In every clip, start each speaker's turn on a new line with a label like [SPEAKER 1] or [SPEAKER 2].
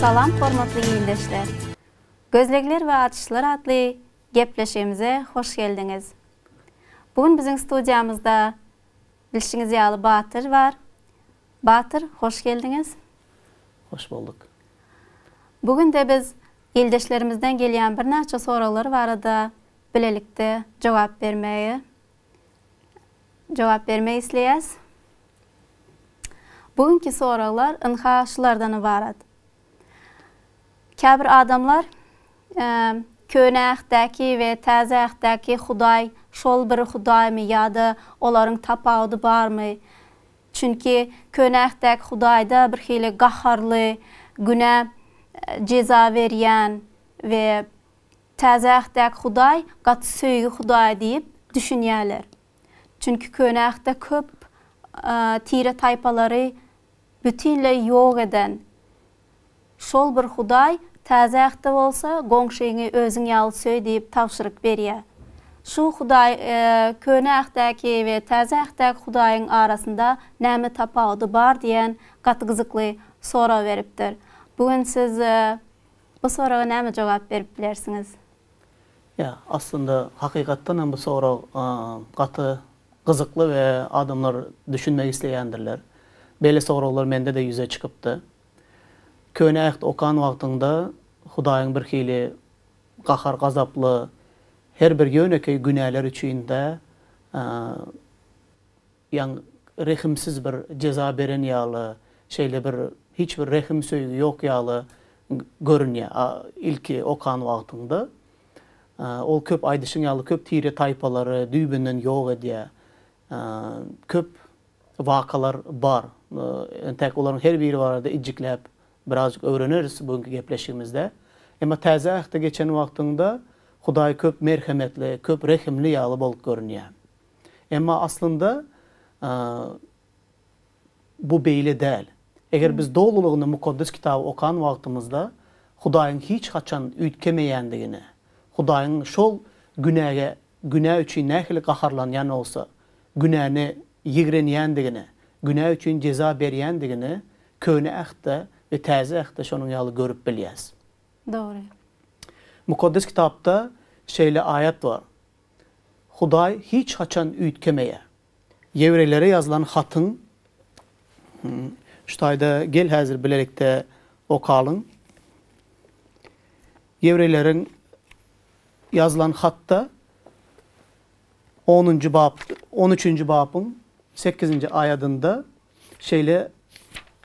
[SPEAKER 1] Salam hormatly ildeşler! Gözlegler we açyşlar atly gepleşigimize hoş geldiňiz. Bu gün biziň studiýamyzda bilşiňiz ýaly Batyr bar. Batyr, hoş geldiňiz! Hoş bolduk! Bu gün-de biz ildeşlerimizden gelýän birnäçe soraglary barada bilelikde jogap bermegi jogap bermek isleýäs. Bu günki soraglar ynha şulardan ybarat. Käbir adamlar Köne Ähtdäki we Täze Ähtdäki Hudaý şol bir Hudaýmy ýa-da olaryň tapawudy barmy? Çünki Köne Ähtdäki Hudaýda birhili gaharly, günä jeza berýän we Täze Ähtdäki Hudaý gaty söýgi Hudaý diýip düşünýärler. Çünki Köne Ähtde köp tire-taýpalary bütinleý ýok eden şol bir Hudaý Täze Ähtde bolsa goňşyňy özüň ýaly söý diýip tabşyryk berýär. Şu Hudaý Köne Ähtdäki we Täze Ähtdäki Hudaýyň arasynda näme tapawudy bar diýen gaty gyzykly sorag beripdir. Bu gün siz Bu soraga näme jogap berip bilersiňiz? Ýa, aslynda hakykatdan hem bu sorag gaty gyzykly we adamlar düşünmek isleýändirler. Beýle soraglar mende-de ýüze çykypdy. Köne Äht okan wagtyňda Hudaýyň birhili gahar-gazaply, her bir ýönekeý günäler üçin-de Ýaň rehimsiz bir jeza beren ýaly, şeýle bir hiç bir rehim söýgi ýok ýaly görünýär a ilki okan wagtyňda. Ol köp aýdyşyň ýaly köp tire taýpalary düýbünden ýok edýär. Köp wakalar bar. Entäk olaryň her biri barada ijjikläp birazjyk öwreneris bu günki gepleşigimizde. Emma täze ähte geçen wagtyňda Hudaý köp merhemetli, köp rehimli ýaly bolup görünýär. Emma aslynda bu beýle däl. Eger biz dolulygyna Mukaddes Kitaby okan wagtymyzda Hudaýyň hiç haçan üýtgemeýändigini, Hudaýyň şol günäge, günä üçin nähili gaharlanýan bolsa, günäni ýigrenýändigini, günä üçin jeza berýändigini Köne Ähtde we Täze Ähtde şonuň ýaly görüp bilýäs. Dogry. Mukaddes Kitapda şeýle aýat bar. Hudaý hiç haçan üýtgemeýär. Ýewreýlere ýazylan hatyň Şu taýda gel häzir bilelikde okalyň. Ýewreýleriň ýazylan hatda onunjy bap on üçünji babyň sekizinji aýadynda şeýle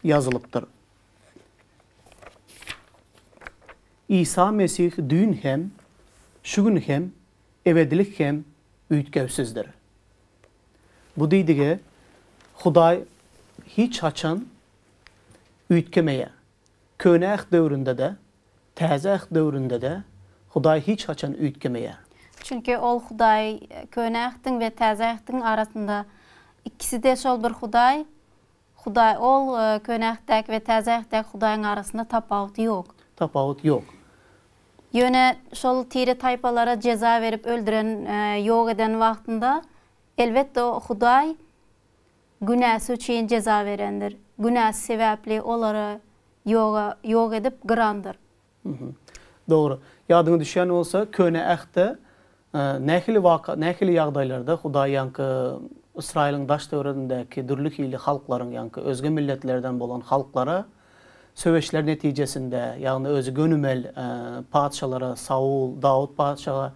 [SPEAKER 1] ýazylypdyr. Isa Mesih düýn hem, şu gün hem, ebedilik hem üýtgewsizdir. Bu diýdige Hudaý hiç haçan üýtgemeýär. Köne Äht döwründe-de, Täze Äht döwründe-de Hudaý hiç haçan üýtgemeýär. Çünki ol Hudaý, Köne Ähtiň we Täze Ähtiň arasynda ikisi-de şol bir Hudaý, Hudaý ol, Köne Ähtdäki we Täze Ähtdäki Hudaýyň arasynda tapawut ýok. Tapawut ýok. Ýöne şol tire-taýpalara jeza berip öldüren, ýok eden wagtynda, elbetde, Hudaý günäsi üçin jeza berendir. Günäsi sebäpli olary ýoga, ýok edip gyrandyr. Dogry. Ýadyňa düşýän bolsa, Köne Ähtde nähili waka, nähili ýagdaýlarda Hudaý ýaňky Ysraýylyň daş-töweregindäki dürli hili halklaryň, ýaňky özge milletlerden bolan halklara söweşler netijesinde, ýagny özi gönümel patyşalara, Saul, Dawut patyşaga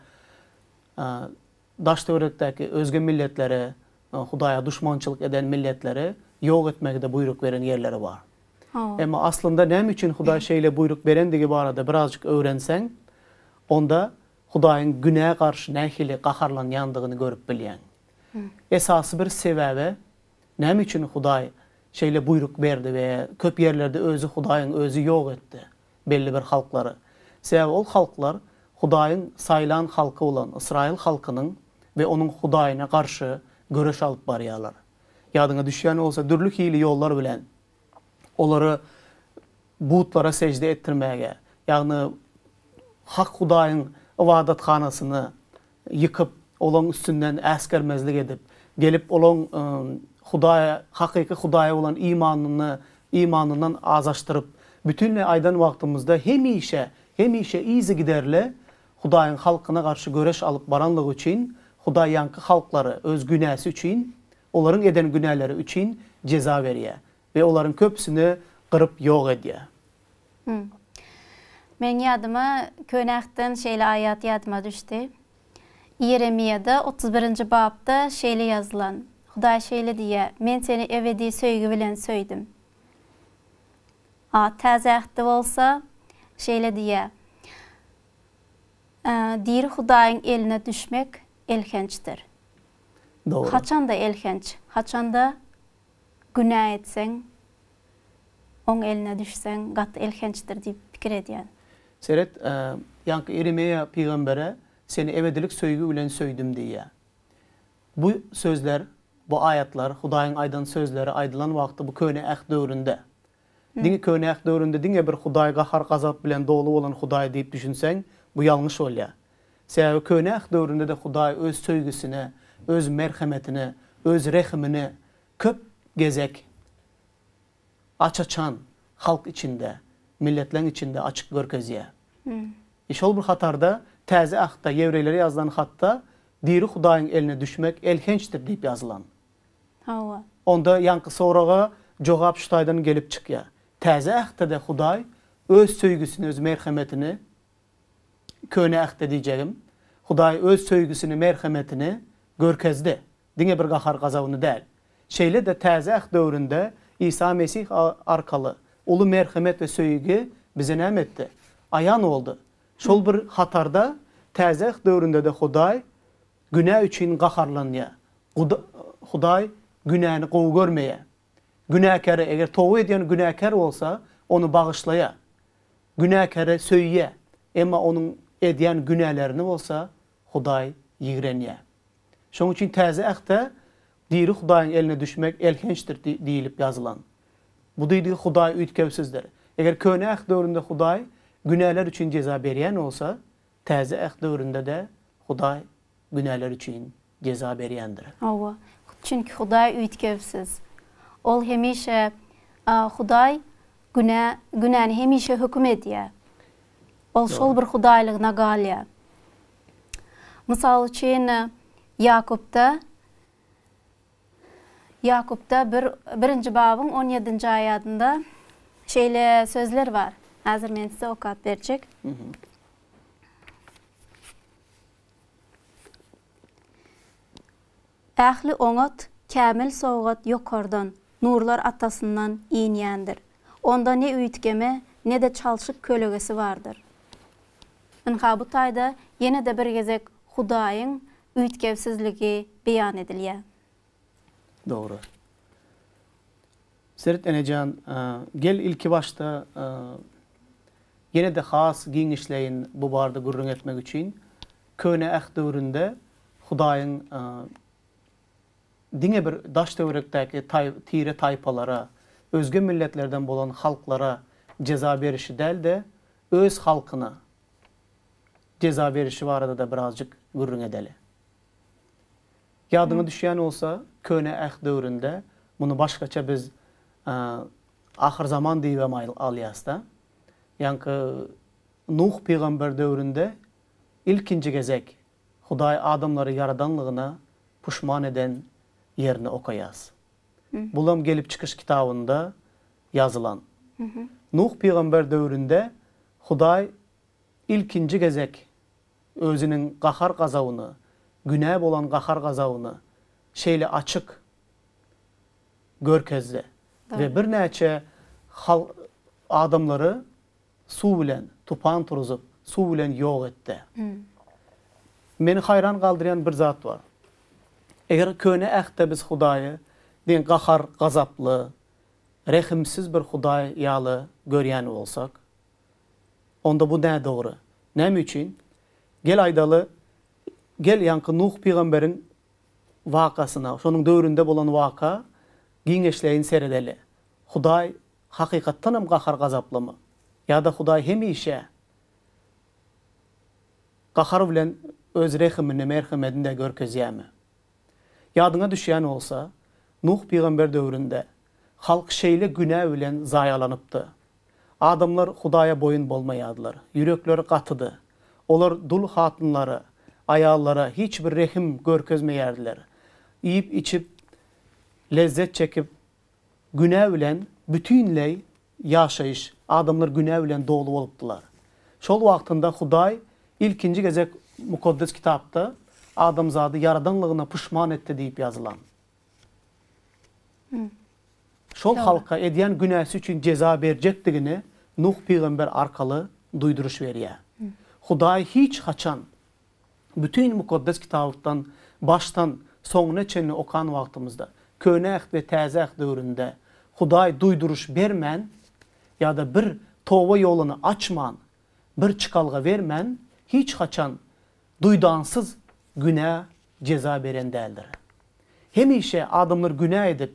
[SPEAKER 1] Daş-töwerekdäki özge milletleri, Hudaýa duşmançylyk eden milletleri ýok etmegi-de buýruk beren ýerleri bar. Emma aslynda näme üçin Hudaý şeýle buýruk berendigi barada birazjyk öwrenseň, onda Hudaýyň günä garşy nähili gaharlanýandygyny görüp bilýäň. Esasy bir sebäbi, näme üçin Hudaý şeýle buýruk berdi we köp ýerlerde özi Hudaýyň özi ýok etdi? belli bir halklary. Sebäbi ol halklar Hudaýyň saýlan halky bolan ysraýyl halkynyň we onuň Hudaýyna garşy göreş alyp barýarlar. Ýadyňa düşýän bolsa, dürli hili ýollar bilen olary butlara sežde etdirmäge, ýagny hak Hudaýyň ybadathanasyny ýykyp, olaň üstünden äsgermezlik edip, gelip olaň Hudaýa, hakyky Hudaýa bolan imanyny, imanyndan azaşdyryp, bütinleý aýdan wagtymyzda hemişe, hemişe yzygiderli Hudaýyň halkyna garşy göreş alyp baranlygy üçin, Hudaý ýaňky halklary öz günäsi üçin, olaryň eden günäleri üçin jeza berýär we olaryň köpüsini gyryp ýok edýär. Hum. Meniň ýadyma könäkden şeýle aýat ýadyma düşdi. Ýeremiýada otuz birinji bapda şeýle ýazylan. Hudaý şeýle diýýär, Men seni ebedi söýgi bilen söýdüm. A Täze Ähtde bolsa şeýle diýýär, Diri Hudaýyň eline düşmek elhençdir. Dogry. Haçanda elhenç? Haçanda günä etseň, oň eline düşseň gaty elhençdir diýip pikir edýän. Seret, ýaňky Ýeremeýa pygambere seni ebedilik söýgi bilen söýdüm diýýär. Bu sözler, bu aýatlar, Hudaýyň aýdan sözleri aýdylan wagty bu Köne Äht döwründe. Diňe Köne Äht döwründe diňe bir Hudaý gahar-gazap bilen doly bolan Hudaý diýip düşünseň, bu ýalňyş bolýar. Sebäbi Köne Äht döwründe-de Hudaý öz söýgüsini, öz merhemetini, öz rehimini Köp gezek aç-açan halk içinde, milletleň içinde açyk görkezýär. I şol bir hatarda Täze Ahtda ýewreýlere ýazylan hatda diri Hudaýyň eline düşmek elhençdir diýip ýazylan. Hawa. Onda ýaňky soraga jogap şu taýdan gelip çykýar. Täze Ähtde-de Hudaý Öz söýgüsini, Öz merhemetini, Köne Ähtde diýjegim, Hudaý Öz söýgüsini, merhemetini görkezdi. Diňe bir gahar-gazabyny däl. Şeýle-de Täze Äht döwründe Isa Mesih arkaly uly merhemet we söýgi bize näme etdi? Aýan boldy. Şol bir hatarda Täze Äht döwründe-de Hudaý günä üçin gaharlanýar. Hudaý günäni gowy görmeýär. Günäkäre, eger toba edýän günäkär bolsa, ony bagyşlaýar. Günäkäri söýýär, emma onuň edýän günälerini bolsa Hudaý ýigrenýär. Şonuň üçin Täze Ähtde diri Hudaýyň eline düşmek elhençdir diýlip ýazylan. Bu diýdigi Hudaý üýtgewsizdir. Eger Köne Äht döwründe Hudaý günäler üçin jeza berýän bolsa, Täze Äht döwründe-de Hudaý günäler üçin jeza berýändir. Hawa, çünki Hudaý üýtgewsiz. Ol hemişe Hudaý günä, günäni hemişe höküm edýär. Ol şol bir hudaýlygyna galýar. Mysal üçin, Ýakupda, Ýakupda bir, birinji babyň on ýedinji aýadynda şeýle sözler bar. Häzir men size okap berjek. Ähli oňat, kämil sowgat ýokardan, nurlar Atasyndan inýändir. Onda ne üýtgeme, ne-de çalşyk kölegesi bardyr. Ynha bu taýda ýene-de bir gezek Hudaýyň üýtgewsizligi beýan edilýär. Dogry. Seret enejan, gel ilki başda ýene-de has giňişleýin bu barada gürrüň etmek üçin, Köne Äht döwründe Hudaýyň diňe bir daş-töwerekdäki tire-taýpalara, özge milletlerden bolan halklara jeza berişi däl-de, Öz halkyna jeza berişi barada-da birazjyk gürrüň edeli. Ýadyňa düşýän bolsa, Köne Äht döwründe muny başgaça biz ahyrzaman diýibem alýasda. Ýaňky Nuh pygamber döwründe ilkinji gezek Hudaý adamlary ýaradanlygyna puşman eden ýerini okaýas. Bulam Gelip çykyş kitabynda ýazylan. Nuh pygamber döwründe Hudaý ilkinji gezek Özüniň gahar-gazabyna, günä bolan gahar-gazabyny şeýle açyk görkezdi we birnäçe halk adamlary suw bilen tupan turuzyp, suw bilen ýok etdi. Meni haýran galdyrýan bir zat bar. Eger Köne Ähtde biz Hudaýy diňe gahar-gazaply, rehimsiz bir Hudaý ýaly görýän bolsak, Onda bu nädogry. Näme üçin? Gel aýdaly, gel ýaňky Nuh pygamberiň wakasyna, şonuň döwründe bolan waka giňeşleýin seredeli. Hudaý hakykatdanam gahar-gazaplymy? Ýa-da Hudaý hemişe gahar bilen öz rehimini, merhemedini-de görkezýärmi? Ýadyňa düşýän bolsa, Nuh pygamber döwründe halk şeýle günä bilen zaýalanypdy. Adamlar Hudaýa boýun bolmaýardylar. Ýürekleri gatydy. Olar dul hatynlara, aýallara hiç bir rehim görkezmeýärdiler. Iýip-içip, lezzet çekip, günä bilen bütinleý ýaşaýyş, adamlar günä bilen doly bolupdylar. Şol wagtynda Hudaý ilkinji gezek Mukaddes Kitapda adamzady ýaradanlygyna puşman etdi diýip ýazylan. Şol halka edýän günäsi üçin jeza berjekdigini Nuh pygamber arkaly duýduryş berýär. Hudaý hiç haçan bütin Mukaddes Kitablykdan başdan soňuna çenli okan wagtymyzda, Köne Äht we Täze Äht döwründe Hudaý duýduryş bermän ýa-da bir toba ýoluny açman, bir çykalga bermän hiç haçan duýdansyz günä jeza beren däldir. Hemişe adamlar günä edip,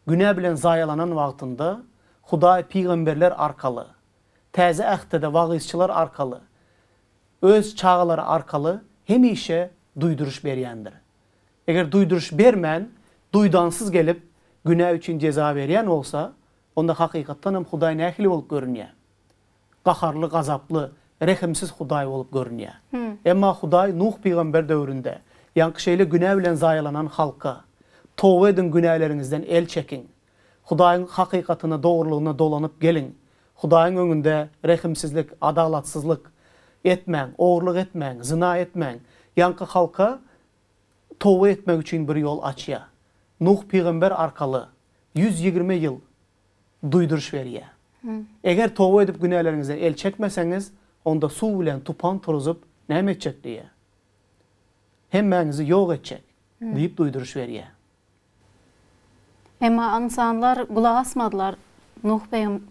[SPEAKER 1] günä bilen zaýalanan wagtynda Hudaý pygamberler arkaly, Täze Ähtde-de wagyzçylar arkaly, Öz çagalary arkaly hemişe duýduryş berýändir. Eger duýduryş bermän, duýdansyz gelip, günä üçin jeza berýän bolsa, onda hakykatdan hem Hudaý nähili bolup görünýär? gaharly, gazaply, rehimsiz Hudaý bolup görünýär. Emma Hudaý Nuh pygamber döwründe, ýaňky şeýle günä bilen zaýalanan halka, Toba ediň, günäleriňizden el çekiň. Hudaýyň hakykatyna, dogrulygyna dolanyp geliň. Hudaýyň öňünde rehimsizlik, adalatsyzlyk etmäň, ogurlyk etmäň, zyna etmäň. Ýaňky halka toba etmek üçin bir ýol açýar. Nuh pygamber arkaly ýüz ýigrimi ýyl duýduryş berýär. Eger toba edip günäleriňizden el çekmeseňiz, onda suw bilen tupan turuzyp näme etjek diýýär. Hemmäňizi ýok etjek diýip duýduryş berýär. Emma ynsanlar gulak asmadylar. Nuh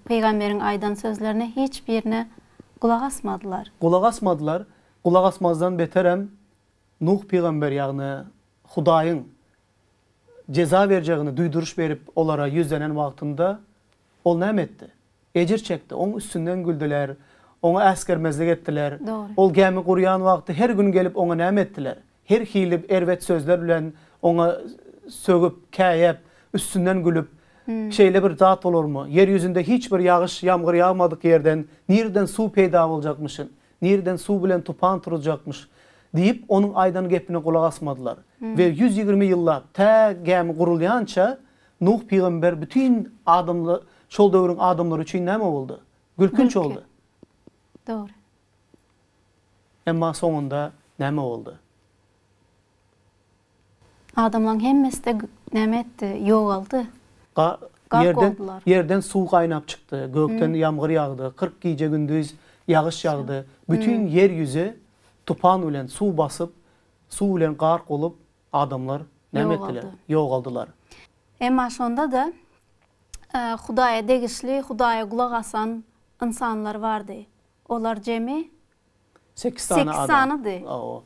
[SPEAKER 1] pygamberiň aýdan sözlerine hiç birine gulak asmadylar. Gulak asmadylar. Gulak asmazdan beterem Nuh pygamber ýagny Hudaýyň jeza berjegini duýduryş berip, olara ýüzlenen wagtynda, ol näme etdi? Ejir çekdi, oň üstünden güldüler, oňa äsgermezlik etdiler. Dogry. Ol gämi gurýan wagty her gün gelip oňa näme etdiler? Her hili erbet sözler bilen oňa sögüp, käýäp, üstünden gülüp, Şeýle bir zat bolarmy? Ýer ýüzünde hiç bir ýagyş, ýamgyr ýagmadyk ýerden nireden suw peýda boljakmyşyn? Nireden suw bilen tupan turuzjakmyş? diýip, onuň aýdan gepine gulak asmadylar. We ýüz ýigrimi ýyllap, tä gämi gurulýança, Nuh pygamber bütin adamla, şol döwrüň adamlary üçin näme boldy? Gülkünç boldy. Dogry. Emma soňunda näme boldy? Adamlaň hemmesi-de näme etdi? Ýogaldy. Gark boldular. Ýerden suw gaýnap çykdy, gökden ýamgyr ýagdy, kyrk gije-gündiz ýagyş ýagdy. Bütin ýer ýüzi tupan bilen suw basyp, suw bilen gark bolup, adamlar näme etdiler? Ýogaldylar. Emma şonda-da Hudaýa degişli, Hudaýa gulak asan ynsanlar bardy. Olar jemi Sekiz sany adam. Sekiz sanydy. Hawa.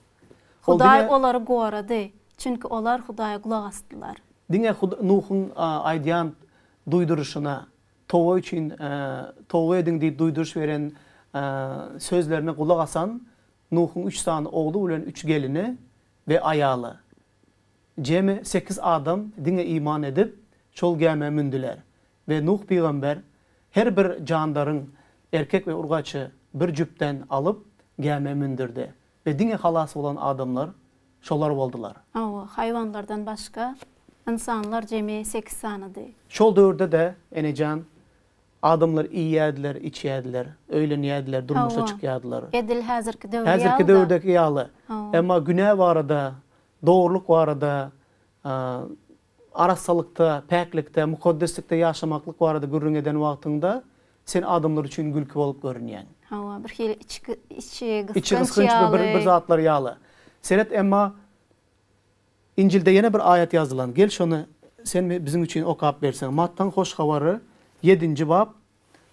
[SPEAKER 1] Hudaý olary gorady, çünki olar Hudaýa gulak asdylar. Diňe Nuhuň aýdýan duýduryşyna, toba üçin, toba ediň diýip duýduryş beren sözlerine gulak asan Nuhuň üç sany ogly bilen üç gelini we aýaly, jemi sekiz adam diňe iman edip, şol gämä mündüler. we Nuh pygamber her bir jandaryň, erkek we urgaçy, bir jübtden alyp, gämä mündürdi we diňe halas bolan adamlar şolar boldular. Hawa, haýwanlardan başga, ynsanlar jemi sekiz sanydy. Şol döwürde-de, enejan, adamlar iýýärdiler, içýärdiler, öýlenýärdiler, durmuşa çykýardylar. Hawa, edil häzirki döwür ýaly-da. Häzirki döwürdäki ýaly. Hawa. Emma günä barada, dogrulyk barada Arassalykda, päklikde, mukaddeslikde ýaşamaklyk barada gürrüň eden wagtyňda sen adamlar üçin gülki bolup görünýäň. Hawa, bir hili içi gysganç ýaly. Bir zatlar ýaly. Seret, emma Injilde ýene bir aýat ýazylan. Gel şony sen biziň üçin okap berseň. Mattaň Hoş Habary ýedinji bap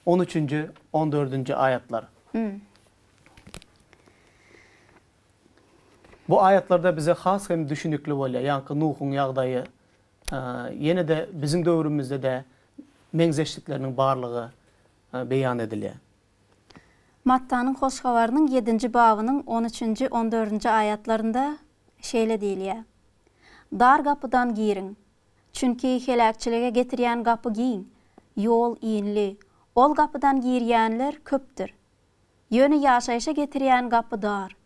[SPEAKER 1] On üçünji, on dördünji aýatlar. Bu aýatlarda bize has hem düşünikli bolýar, ýaňky Nuhuň ýagdaýy, ýene-de biziň döwrümizde-de meňzeşlikleriniň barlygy beýan edilýär. Mattanyň Hoş Habarynyň ýedinji babynyň on üçünji, on dördünji aýatlarynda şeýle diýilýär, Dar gapydan giriň, Çünki heläkçilige getirýän gapy giň, ýol inli, ol gapydan girýänler köpdür. Ýöne ýaşaýşa getirýän gapy dar,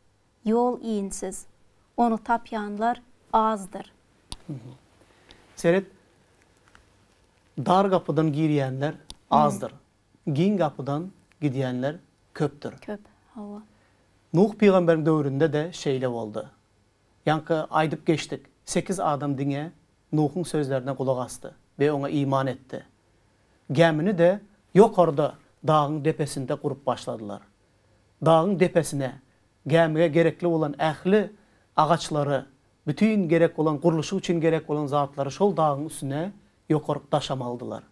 [SPEAKER 1] ýol insiz, ony tapýanlar azdyr. Seret, dar gapydan girýänler azdyr, giň gapydan gidýänler köpdür. Köp, hawa. Nuh pygamberiň döwründe-de şeýle boldy. Ýaňky aýdyp geçdik, sekiz adam diňe Nuhuň sözlerine gulak asdy we oňa iman etdi. Gämini-de ýokarda dagyň depesinde gurup başladylar. Dagyň depesine gämige gerekli bolan ähli agaçlary, bütin gerek bolan gurluşyk üçin gerek bolan zatlary şol dagyň üstüne ýokaryk daşam aldylar.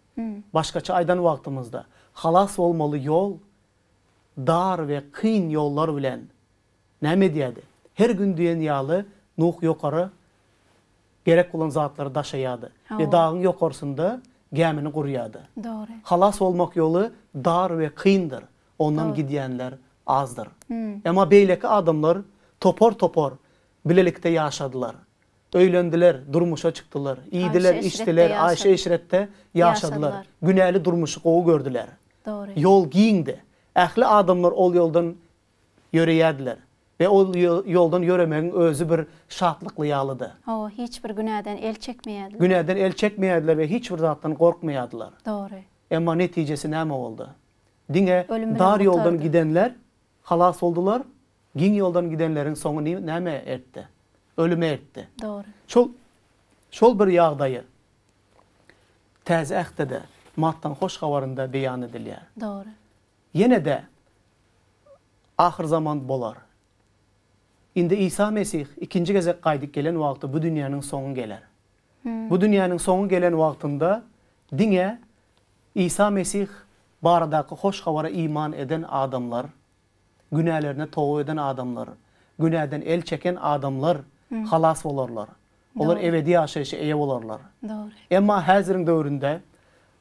[SPEAKER 1] Başgaça aýdan wagtymyzda, halas bolmaly ýol dar we kyn ýollar bilen Näme edýärdi? Her gün diýen ýaly Nuh ýokara gerek bolan zatlary daşaýardy we dagyň ýokarsynda gämini gurýardy. Dogry. Halas bolmak ýoly dar we kyndyr, ondan gidýänler azdyr. Emma beýleki adamlar topar-topar bilelikde ýaşadylar. Öýlendiler, durmuşa çykdylar, iýdiler, içdiler, aýşy-eşretde ýaşadylar, günäli durmuşy gowy gördüler. Dogry. Ýol giňdi. Ähli adamlar ol ýoldan ýöreýärdiler we ol ýoldan ýöremegiň özi bir şatlykly ýalydy. Hawa, hiç bir günäden el çekmeýärdiler. Günäden el çekmeýärdiler we hiç bir zatdan gorkmaýardylar. Dogry. Emma netijesi näme boldy? Diňe dar ýoldan gidenler halas boldular, giň ýoldan gidenleriň soňy näme eltdi? Ölüme eltdi. Dogry. Şol, şol bir ýagdaýy Täze Ähtde-de, Matdan Hoş Habarynda beýan edilýär. Dogry. Ýene-de ahyrzaman bolar. Indi Isa Mesih ikinji gezek gaýdyp gelen wagty bu dünýäniň soňy geler. Bu dünýäniň soňy gelen wagtynda diňe Isa Mesih baradaky hoş habara iman eden adamlar, günälerine toba eden adamlar, günäden el çeken adamlar halas bolarlar. Olar ebedi ýaşaýşa eýe bolarlar. Emma häziriň döwründe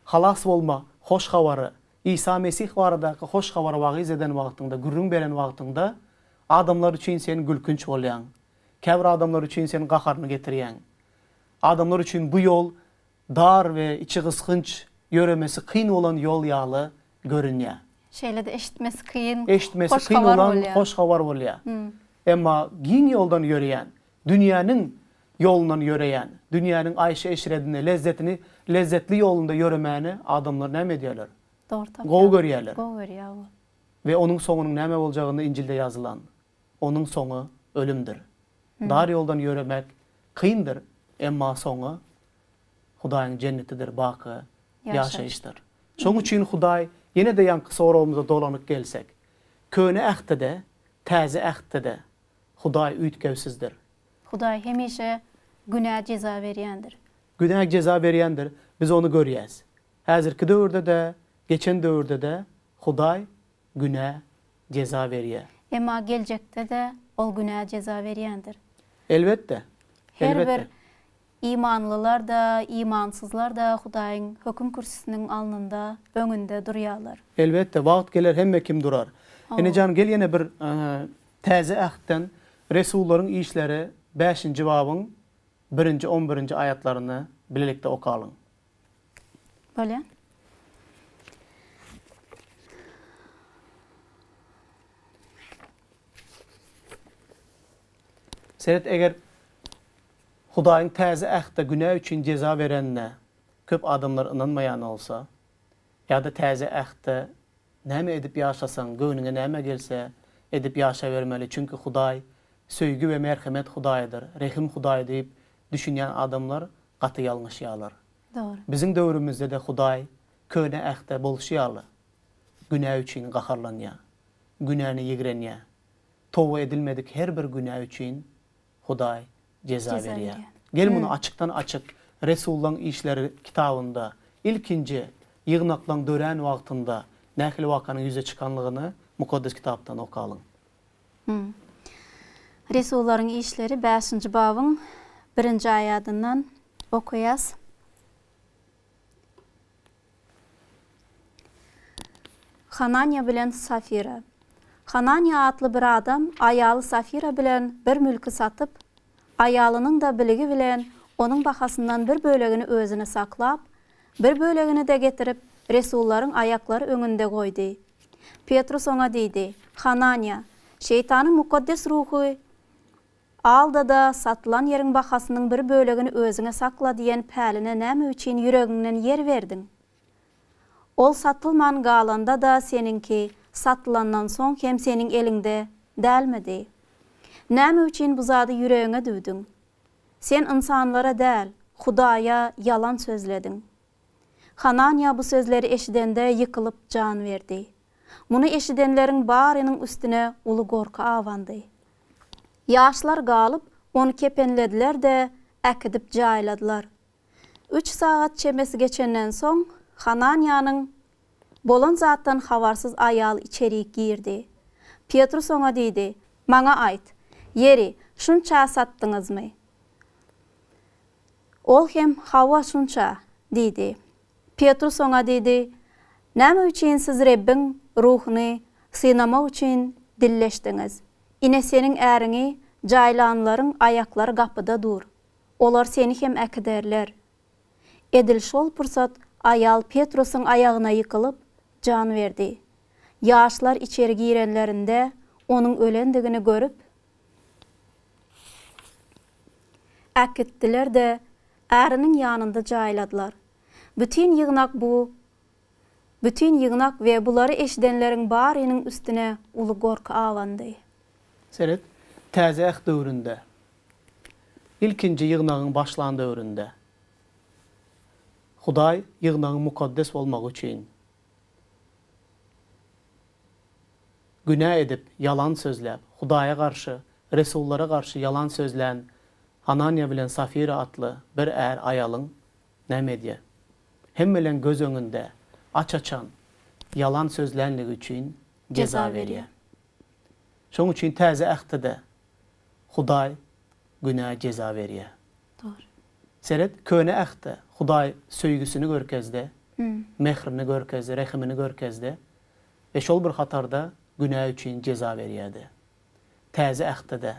[SPEAKER 1] halas bolma hoş habary Isa Mesih baradaky hoş habary wagyz eden wagtyňda, gürrüň beren wagtyňda, adamlar üçin sen gülkünç bolýaň. Käbir adamlar üçin sen gaharyny getirýäň. Adamlar üçin bu ýol dar we içi gysgynç, ýöremesi kyn bolan ýol ýaly görünýär. Şeýle-de eşitmesi kyn hoş habar bolýar. Eşitmesi kyn bolan hoş habar bolýar. Emma giň ýoldan ýöreýän, Dünýäniň ýolundan ýöreýän, dünýäniň aýşy-eşretini, lezzetini, lezzetli ýolunda ýöremäni adamlar näme edýärler? Dogry tapýarlar. Gowy görýärler. Gowy görýär bu. We onuň soňunyň näme boljagyny Injilde ýazylan. Onuň soňy ölümdir. Dar ýoldan ýöremek kyndyr, emma soňy Hudaýyň jennetidir, baky ýaşaýyşdyr. Şonuň üçin Hudaý, ýene-de ýaňky soragymyza dolanyp gelsek, Köne Ähtde-de, Täze Ähtde-de, Hudaý üýtgewsizdir. Hudaý hemişe günä jeza berýändir. Günä jeza berýändir, biz ony görýäs. Häzirki döwürde-de, geçen döwürde-de Hudaý günä jeza berýär. Emma geljekde-de Ol günä jeza berýändir. Elbetde. Her bir Imanlylar-da, imansyzlar-da Hudaýyň höküm kürsüsiniň alnynda, öňünde, durýarlar. Elbetde, wagt geler hemme kim durar. Ene jan gel ýene bir Täze Ähtden Resullaryň işleri bäşinji babyň birinji on birinji aýatlaryny bilelikde okalyň. Bolýar. Seret eger Hudaýyň Täze Ähtde günä üçin jeza berenine köp adamlar ynanmaýan bolsa, ýa-da Täze Ähtde näme edip ýaşasaň, göwnüňe näme gelse, edip ýaşabermeli, çünki Hudaý söýgi we merhemet Hudaýydyr, rehim Hudaýy diýip düşünýän adamlar gaty ýalňyşýarlar. Dogry. Biziň döwrümizde-de Hudaý Köne Ähtde bolşy ýaly, günä üçin gaharlanýar, günäni ýigrenýär, toba edilmedik her bir günä üçin Hudaý jeza berýär. Gel muny açykdan açyk Resullaň işleri kitabynda ilkinji ýygnaklaň dörän wagtynda nähili wakanyň ýüze çykanlygyny Mukaddes Kitapdan okalyň. Hum. Resullaryň işleri bäşinji babyň birinji aýadyndan okaýas. Hananýa bilen Safira. Hananýa atly bir adam aýaly Safira bilen bir mülki satyp, aýalynyň-da biligi bilen onuň bahasyndan bir bölegini özüne saklap, bir bölegini-de getirip, resullaryň aýaklary öňünde goýdy. Petrus oňa diýdi, Hananýa, Şeýtanyň mukaddes ruhy Alda-da, satylan ýeriň bahasynyň bir bölegini özüňe sakla diýen päline näme üçin ýüregiňden ýer berdiň? Ol satylman galanda-da seniňki, satylandan soň hem seniň eliňde dälmidi? Näme üçin bu zady ýüregiňe düwdüň? Sen ynsanlara däl, Hudaýa ýalan sözlediň. Hananýa bu sözleri eşidende ýykylyp jan berdi. Muny eşidenleriň barynyň üstüne uly gorky abandy. Ýaşlar galyp, ony kepenlediler-de, äkidip jaýladylar. Üç sagat çemesi geçenden soň, Hananýanyň bolan zatdan habarsyz aýal içerik girdi. Petrus oňa diýdi, Maňa aýt, ýeri şunça satdyňyzmy? Ol hem, Hawa, şunça diýdi. Petrus oňa diýdi, Näme üçin siz Rebbiň Ruhuny synamak üçin dilleşdiňiz? Ine, seniň äriňi jaýlanlaryň aýaklary gapyda dur. Olar seni hem äkiderler. Edil şol pursat aýal Petrusyň aýagyna ýykylyp, jan berdi. Ýaşlar içeri girenlerinde, onuň ölendigini görüp, Äkitdiler-de, äriniň ýanynda jaýladylar. Bütin ýygnak bu Bütin ýygnak we bulary eşidenleriň barynyň üstüne uly gorky abandy. Seret, Täze Äht döwründe, ilkinji ýygnagyň başlan döwründe, Hudaý ýygnagyň mukaddes bolmagy üçin Günä edip, ýalan sözläp, Hudaýa garşy, resullara garşy ýalan sözlän Ananýa bilen Safira atly bir är aýalyň näme edýär? Hemmeleriň göz öňünde aç-açan ýalan sözlänligi üçin jeza berýär. Şonuň üçin Täze Ähtde-de Hudaý günä jeza berýär. Dogry. Seret, Köne Ähtde Hudaý söýgüsini görkezdi, mährini görkezdi, rehimini görkezdi we şol bir hatarda günä üçin jeza berýärdi. Täze Ähtde-de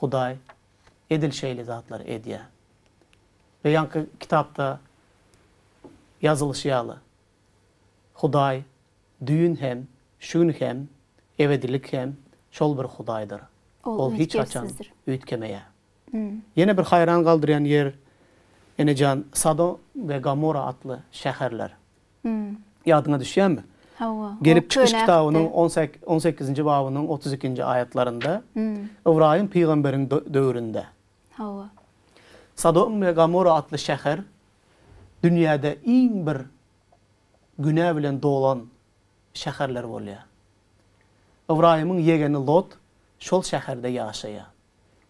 [SPEAKER 1] Hudaý edil şeýle zatlary edýär. We ýaňky kitapda ýazylyşy ýaly, Hudaý düýn hem, şu gün hem, ebedilik hem şol bir Hudaýdyr. Ol hiç haçan üýtgemeýär. Ýene bir haýran galdyrýan ýer, enejan, Sado we Gamora atly şäherler. Ýadyňa düşýärmi? Hawa. Gelip çykyş kitabynyň on sekizinji babynyň otuz ikinji aýatlarynda, Ybraýym pygamberiň döwründe. Hawa. Sadom we Gamora atly şäher dünýäde iň bir günä bilen dolan şäherler bolýar. Ybraýymyň ýegeni Lot şol şäherde ýaşaýar.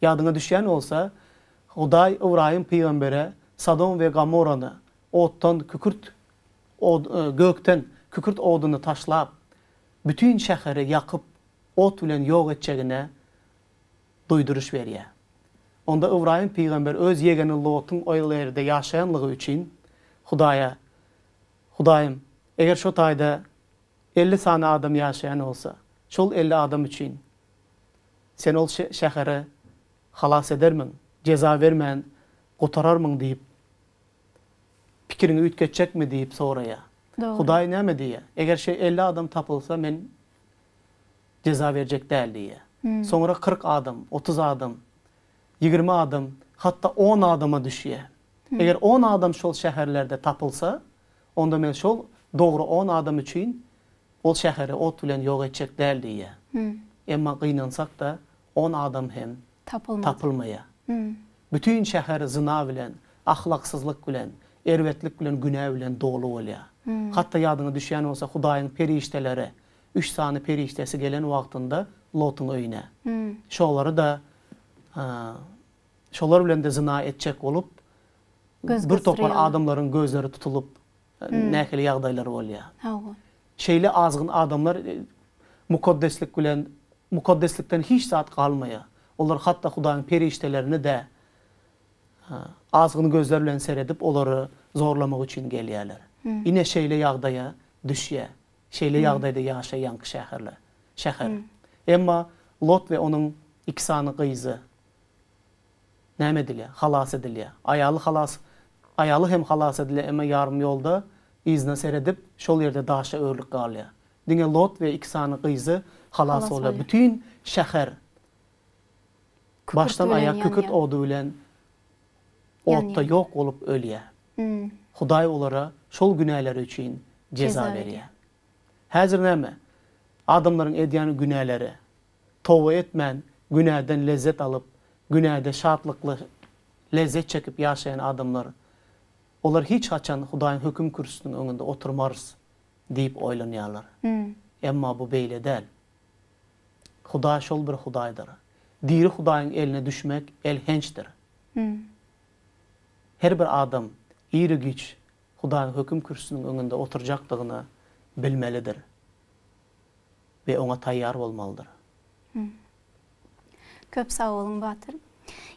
[SPEAKER 1] Ýadyňa düşýän bolsa, Hudaý Ybraýym pygambere Sodom we Gomorrany otdan kükürt od, gökden kükürt oduny taşlap, bütin şäheri ýakyp, ot bilen ýok etjegine duýduryş berýär. Onda Ybraýym pygamber öz ýegeni Lotyň oýl erde ýaşaýanlygy üçin Hudaýa, Hudaýym, eger şo taýda elli sany adam ýaşaýan bolsa, şol elli adam üçin Sen ol şäheri halas edermiň, jeza bermän gutararmyň diýip, pikiriňi üýtgetjekmi diýip soraýar. Hudaý näme diýýär? Eger şu elli adam tapylsa, men jeza berjek däl diýýär. Soňra kyrk adam, otuz adam, ýigrimi adam, hatda on adama düşýär. Eger on adam şol şäherlerde tapylsa, onda men şol dogry on adam üçin Ol şäheri ot bilen ýok etjek däl diýýär. Emma gynansak-da, on adam hem tapylmaýar. Bütin şäher zyna bilen, ahlaksyzlyk bilen, erbetlik bilen, günä bilen doly bolýar. Hat-da ýadyňa düşýän bolsa, Hudaýyň perişdeleri, üç sany perişdesi gelen wagtynda Lotuň öýüne. Şolary-da, şolar bilen-de zyna etjek bolup, birtopar adamlaryň gözleri tutulyp, nähili ýagdaýlar bolýar. Hawa. Şeýle azgyn adamlar mukaddeslik bilen, mukaddeslikden hiç zat galmaýar. Olar hatda Hudaýyň perişdelerine-de azgyn gözler bilen seredip, olary zorlamak üçin gelýärler. Ine, şeýle ýagdaýa düşýär, şeýle ýagdaýda ýaşaýanky şäherler, şäher. Emma Lot we onuň iki sany gyzy. Näme edilýär? Halas edilýär. Aýaly halas Aýaly hem halas edilýär, emma ýarym ýolda yzyna seredip, şol ýerde daşa örülip galýar. Diňe Lot we iki sany gyzy halas bolýar. Bütin şäher başdan aýak kükürt ody bilen otda ýok bolup ölýär. Hudaý olara şol günäleri üçin jeza berýär. Häzir näme? Adamlaryň edýän günäleri, toba etmän günäden lezzet alyp, günäde şatlykly lezzet çekip ýaşaýan adamlar, olar hiç haçan Hudaýyň höküm kürsüsiniň öňünde oturmarys diýip oýlanýarlar. Emma bu beýle däl. Hudaý şol bir Hudaýdyr. Diri Hudaýyň eline düşmek elhençdir. Her bir adam iri-giç Hudaýyň höküm kürsüsiniň öňünde oturjakdygyny bilmelidir. we oňa taýýar bolmalydyr. Köp sag boluň Batyr.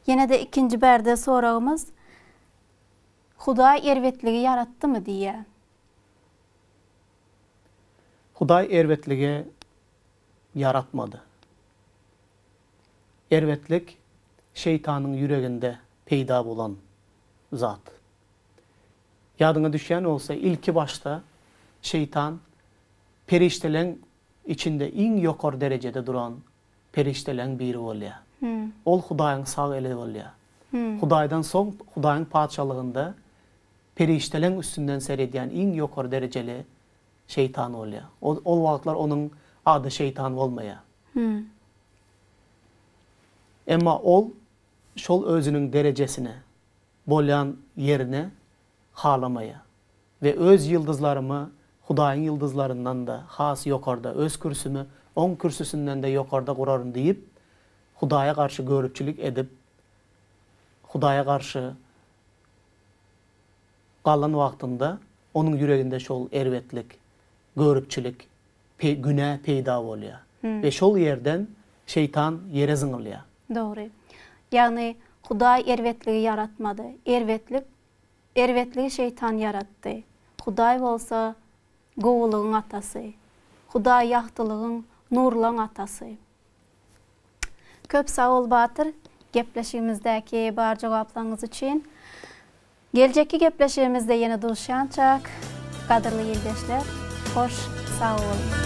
[SPEAKER 1] Ýene-de ikinji bärde soragymyz, Hudaý erbetligi ýaratdymy? diýýär. Hudaý erbetligi ýaratmady. Erbetlik Şeýtanyň ýüreginde peýda bolan zat. Ýadyňa düşýän bolsa, ilki başda Şeýtan perişdeleň içinde iň ýokary derejede duran perişdeleň biri bolýar. Ol Hudaýyň sag eli bolýar. Hudaýdan soň Hudaýyň Patyşalygynda perişdeleň üstünden seredýän iň ýokary derejeli Şeýtan bolýar. Ol ol wagtlar onuň ady Şeýtan bolmaýar. Emma ol şol özüniň derejesine. Bolýan ýerine halamaýa we öz ýyldyzlarymy Hudaýyň ýyldyzlaryndan-da has ýokarda, öz kürsümi Oň kürsüsinden-de ýokarda guraryn diýip, Hudaýa garşy göripçilik edip, Hudaýa garşy galan wagtynda onuň ýüreginde şol erbetlik, göripçilik günä peýda bolýar we şol ýerden şeýtan ýere zyňylýar. Dogry. Ýagny Hudaý erbetligi ýaratmady. Erbetlik erbetligi şeýtan ýaratdy. Hudaý bolsa gowulygyň atasy. Hudaý ýagtylygyň, nurlaň atasy. Köp sag bol Batyr, gepleşigimizdäki bar jogaplaryňyz üçin. Geljekki gepleşigimizde ýene duşýançak, gadyrly ildeşler, hoş sag boluň!